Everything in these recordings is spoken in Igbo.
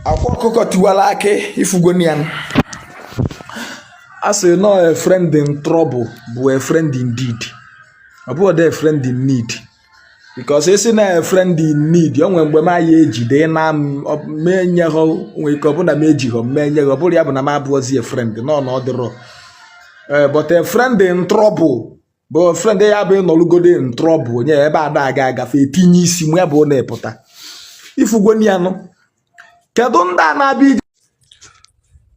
akwa ọkụkọ tiwara akị ị fugonị ya a sị nọ a friend in trouble bụ a friend indeed ọ bụghọdị a friend in need because a sị na a friend in need o nwere mgbe m ya-ejide na m mee nye ha nwee ike ọ bụrụ na m ejighọ m mee nye ha ọ bụrụ ya bụ na m abụọzi a friend no no ọ dịrọ Eh, but a friend in trouble bụ friend ya bụ ị nọlụgode in trouble onye ebe ada aga agafe etinye isi ma ya bụ na ị pụta ị fugonị ya nụ kedu ndị a na-abịa ije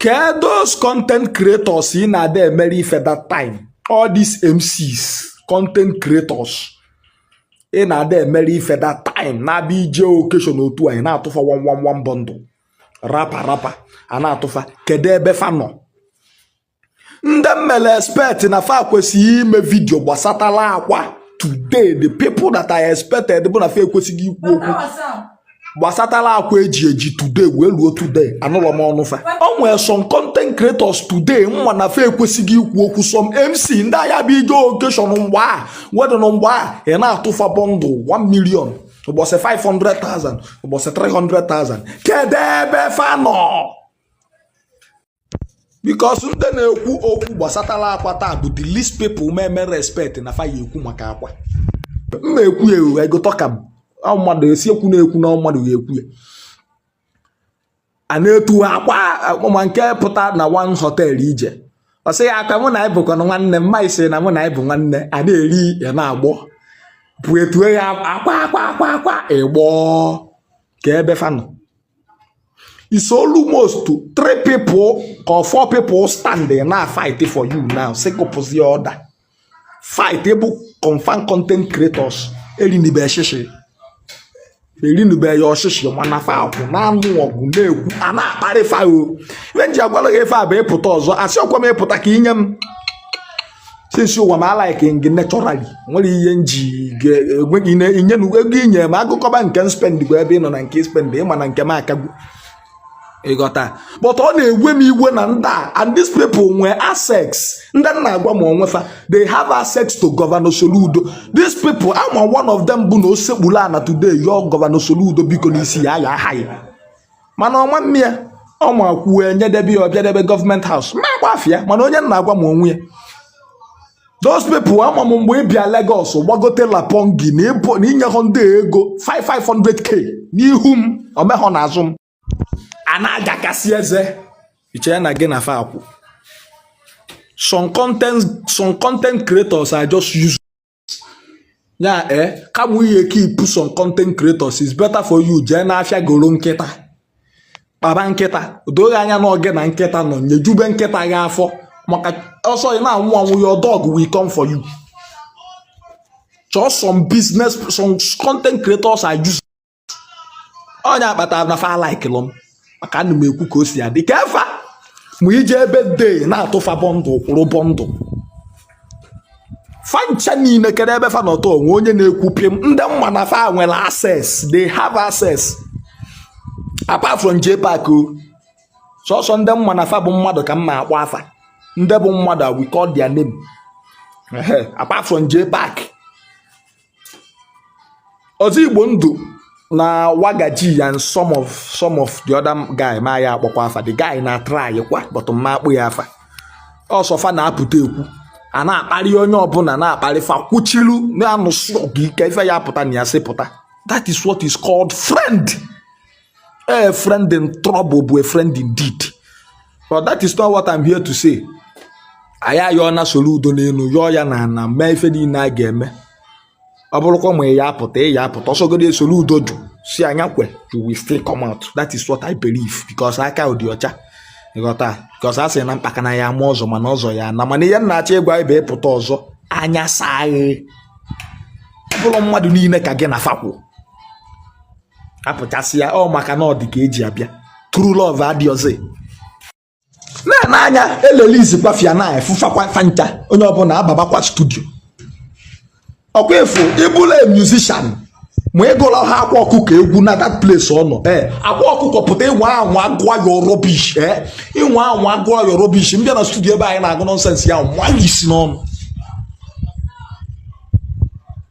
kedu content creators ị na-ada emere ife that time all these MCs content creators ị na-ada emere ife that time na-abịa ije occasion otu anyị na-atụfa 1 1 1 bundle wrapper wrapper a na-atụfa kedu ebe fa nọ ndị m mele expect na fa kwesịghị ime video gbasatala akwa today the people that I expected bụ na fa ekwesịghị ikwu okwu gbasatala akwa eji eji today wee ruo today anụlọ m ọnụ fa o nwere some content creators today nwa na fa ekwesịghị ikwu okwu some MC ndị a ya-abụ ị jee occasion mgbe a wedding mgbe a ị na-atụfa bundle 1 million ụbọchị 500,000 ụbọchị 300,000 kedu ebe fa nọ because ndị na-ekwu okwu gbasatara akwa taa bụ the least people m mele expect na fa ya-ekwu maka akwa m na-ekwu ya ewu I go talk am mmadụ esi ekwu na-ekwu na mmadụ ga-ekwu ya a na-etu akwa ma nke pụta na one hotel ị jee ọ sị ya aka mụ na anyị bụkwa nwanne mma isi na mụ na anyị bụ nwanne a na-eri ya na-agbọ bụ etue ya akwa akwa akwa akwa ị gbọọ kee ebe fa nọ it's almost three people or four people standing na fight for you now sị ka ọ pụzie ọda fight bụ confam content creators erinibe shishi erinibe ya shishi mana fa akwụ na-anụ ọgụ na-ekwu a na-akparị fa ọ ife m ji agwara gị ife a bụ ị pụta ọzọ a sị ọ kwa m ị pụta ka i nye m since ụwa m a like gị naturally nwere ihe m ji enweghị inye na ego i nye m a gụkọba nke m spend bụ ebe ị nọ na nke i spend ị ma na nke m akagwu ị ghọta but ọ na-ewe m iwe na ndị a and these people nwee access ndị m na-agwa ma onwe fa they have access to Governor Soludo these people ama m one of them bụ na o sekpuru ana today yọọ Governor Soludo biko n'isi ya a ya-aha ya mana ọ ma eme ya ọ ma kwuo e nyedebe ya ọ bịadebe government house ma gbafe ya mana onye m na-agwa ma onwe ya those people ama m mgbe ị bịa Lagos gbagote lapongi na ịbụ- na i nyehọ ndị a ego 5 500k n'ihu m o mehọ n'azụ m a na-agakasị eze i chee na gị na fa akwụ some content some content creators are just using ya ee eh, kama ị ya keep some content creators is better for you jee n'afịa goro nkịta kpaba nkịta do gị anya na ọ gị na nkịta nọ nyejube nkịta gị afọ maka ọ sọ ị na-anwụ anwụ your dog will come for you chọọ some business some content creators are using ọ nya kpata na fa alaịkịlọ m maka ana m ekwu ka o si adị ka efa ma ije ebe dei na-atụfa bọndụ kwụrụ bọndụ fa ncha niile kere ebe fa nọ taa o nwe onye na-ekwu pịm ndị m ma na fa nwere access they have access apart from JPAC ọ sọsọ ndị m ma na fa bụ mmadụ ka m ma akpọ afa ndị bụ mmadụ we call their name Ehe, apart from JPAC Ọzọ Igbo Ndụ na Wagaji and some of the other guy ma ya akpọkwa afa the guy na-atry kwa but m ma akpọ ya afa ọ sọ fa na-apụta ekwu a na-akparị onye ọbụla na-akparị fa kwuchilu na-anụsi ọgụ ike ife ya pụta na ya sị pụta that is what is called friend A friend in trouble bụ a friend indeed. But that is not what I'm here to say. Anyị ayọọna Soludo n'elu yọọ ya n'ana mee ife niile a ga-eme. Ọ bụrọkwa ma ị ya-apụta ị ya-apụta ọ sọgodu Soludo jụ sị anya kwe you will still come out. That is what I believe because aka dị ọcha ịghọta because a sị na mkpaka na ya ama ọzọ mana ọzọ ya na mana ihe m na-achọ ịgwa ị bụ ị pụta ọzọ anya saa gị ọ bụrọ mmadụ niile ka gị na fa kwụ apụchasịa ọ maka na ọ dị ka e ji abịa true love adịrọzi na-ene anya e lelizikwa fia na ị fụ fakwa fa ncha onye ọbụla ababakwa studio ọ kwa ị fụ ị bụlụ musician ma ị gụlaha Akwa Ọkụkọ egwu na that place ọ nọ ee eh, Akwa Ọkụkọ pụta ị nwaa anwa gụọ your rubbish ee eh, ị nwaa anwa gụọ your rubbish m bịa na studio ebe anyị na-agụ nonsense ya nwa isi n'ọnụ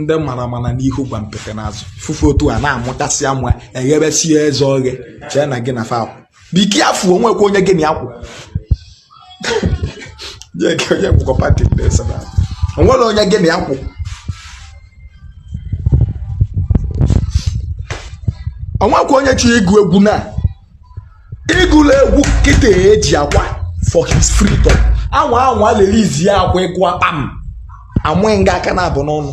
ndị mara mara n'ihu gwampete n'azụ fụ fa otu a na-amụkasị amụ eghebesie eze oghe chee na gị na fa kwụ biki afụ o nwekwa onye gị na ya kwụ o nwerọ onye gị na ya kwụ o nwekwa onye chọrọ ịgụ egwu na ị gụlọ egwu kịta e ji Akwa for his freedom anwa anwa lelizie Akwa ị gụọ akpa m amụ gị nga aka na-abụ n'ọnụ